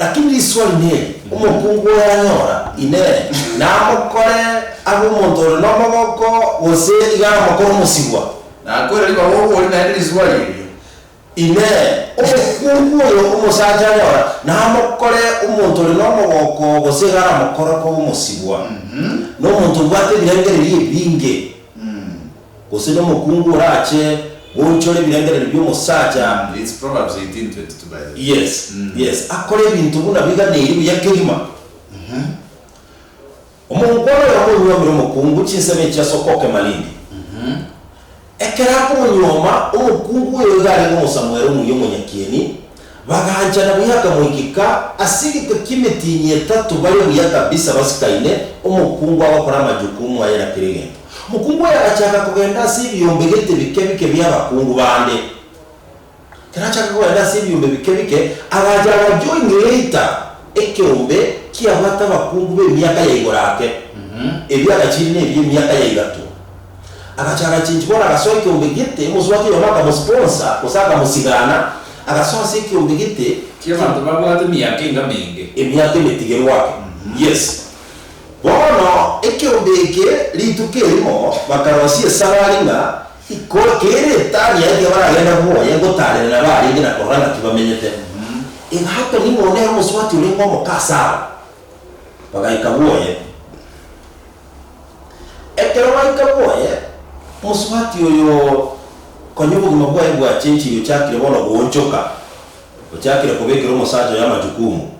Lakini riswali niri, Omokungu oyanyora Inee, namokore abe omonto ore nomogoko, gose iga namokore omosibwa? Nakoira ribaga obori naende riswali erio, Inee, omokungu oyo omosacha anyora namokore omonto ore nomogoko, gose iga namokore koba omosibwa? Nomonto obwate ebirengererio ebinge. Gose nomokungu orache goonchore ebirengererio bi'omosacha. Mm, it's Proverbs 18:22 by the way. Yes, Mm. yes, akore ebinto buna biganeiri buya kegima. Mhm. Omongwana oyo amonywomire omokungu chinsemo echi ase okokema rinde. Mhm. Ekero akomonywoma, omokungu oyo iga arenge omosamu ere omuya omonyakieni, Bagaanchana buya akamoikika ase egeka ki'emetiini etato bare buya kabisa basikaine, omokungu agokora amajukumu aye na kera egento. Omokungu oyo agachaaka kogenda ase ebiombe gete bike bike bi'abakungu bande. Ekero achaaka kogenda ase ebiombe bike bike, agacha agacha oing'eita ekeombe kiabwate abakungu b'emiaka ya igoro ake, ebio agachiire nebi'emiaka ya igato. Agacha agachinchi bono agasoa ekiombe gete, omosu wake Yona akamosponsor, gose akamosigana, agasoa ase ekiombe gete. Ki abanto babwate emiaka enga menge. Emiaka emetigerwa ake. Yes. Bono ekiombe eke rituko erimo bakarosia esabari ng'a ikore kere etani yaye tiga baragenda boye gotaarera nabo arenge na korora ng'aki bamenyete. Egaakwa ning'o nere omosubati orenge omoka ase abo. Bagaika boye. Ekero baika bwoye, mosubati oyo konya obogima bwaye bwachenchire ochakire bono goonchoka, ochakire kobekera omosacha oyo amachukumu,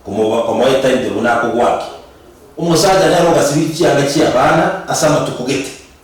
komoba komoeta intwe buna akogwaki. Omosacha nere ogasibiri chianga chi'abana ase amatuko gete.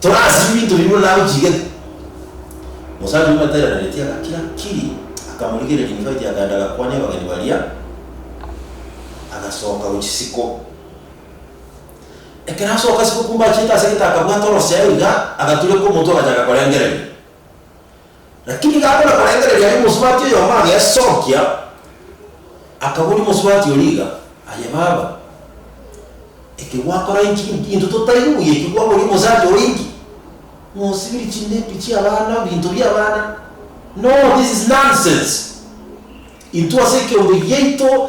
Torasio ebinto bibwe na agochigetwe. Omosacha oria omoterereretie agakira kiri, akamorigereria Nifaiti akaenda agakwania abageni baria, agasoka gochia isiko. Ekero asoka isiko kumbe achiete ase egetaka akabwata orosiayo iga, agatureka omotwe agachaaka korengereria. Lakini gakona korengereria aria omosubati oyomo agesokia, akaboria omosubati oria iga, Aye baba, eke gwakora inki? Inki intwe totaigwe buya ekio kwaboria omosacha oyo inki? Mosibirie chindepi chi'abana, ebinto bi'abana? No, this is nonsense! Intwe ase ekeombe giaito.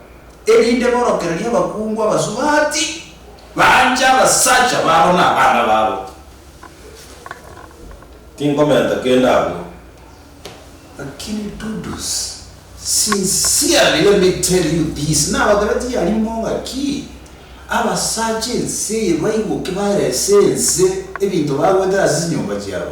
erinde borokererie abakungu abasubati banche abasacha babo na abana babo. Tinkomenta kende agwo, lakini Dudus, sincerely let me tell you this, nabatebetie aria imo ng'aki, abasacha ense eye baigoke barese ense ebinto bagwete ase chinyomba chiabo.